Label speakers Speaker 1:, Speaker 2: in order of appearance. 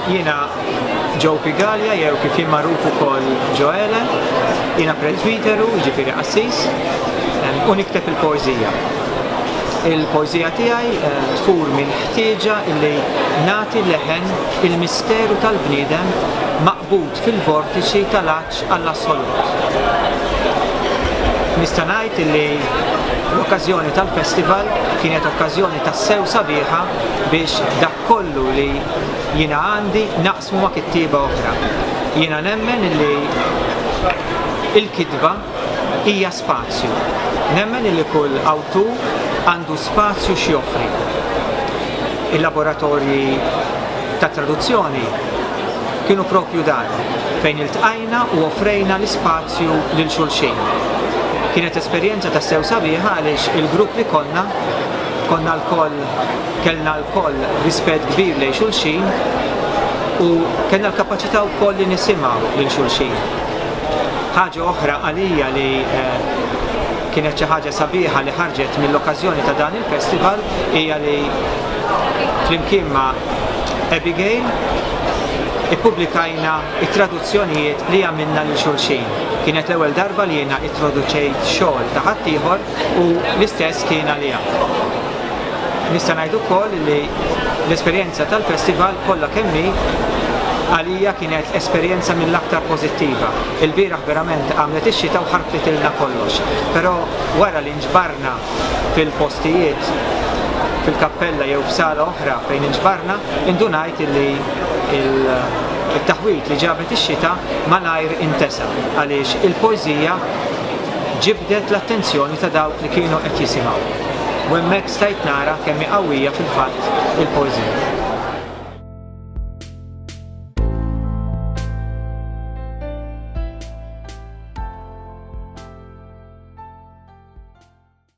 Speaker 1: Jiena Joe Pigalia, jew kif jien magħruf ukoll Joele, jiena presbiteru, ġifieri qassis, u nikteb il-poeżija. Il-poeżija tiegħi eh, tfur minn ħtieġa illi nagħti leħen il-misteru tal-bniedem maqbud fil-vortiċi tal-att Għall-assolut nista' ngħid illi l-okkażjoni tal-festival kienet okkażjoni tassew sabiħa biex dak kollu li jiena għandi naqsmu ma' kittieba oħra. Jiena nemmen illi l-kitba hija Spazju. Nemmen illi kull awtur għandu spazju x'joffri. Il-laboratorji tat-traduzzjoni kienu proprju dan, fejn iltqajna u offrejna l-ispazju lil xulxin. Kienet esperjenza tassew sabiħa għaliex il-grupp li konna, konna lkoll, kellna lkoll rispett kbir lejn xulxin u kellna l-kapaċità wkoll li nisimgħu lil xulxin. Ħaġa oħra għalija li kienet xi ħaġa sabiħa li ħarġet mill-okkażjoni ta' dan il-festival hija li flimkien ma' Abigail ippubblikajna it-traduzzjonijiet li għamilna lil xulxin. Kienet l-ewwel darba li jiena ittroduċejt xogħol ta' ħaddieħor u l-istess kien għaliha. Nista' ngħid ukoll li l-esperjenza tal-festival kollha kemm hi għalija kienet esperjenza mill-aktar pożittiva. Ilbieraħ verament għamlet ix-xita u ħarbitilna kollox. Però wara li nġbarna fil-postijiet, fil-kappella jew f'sala oħra fejn inġbarna, indunajt li t-taħwid li ġabet ix-xita malajr intesa' għaliex il-poeżija, ġibdet l-attenzjoni ta' dawk li kienu qed jisimgħu, u hemmhekk stajt nara kemm hi qawwija fil-fatt il-poeżija.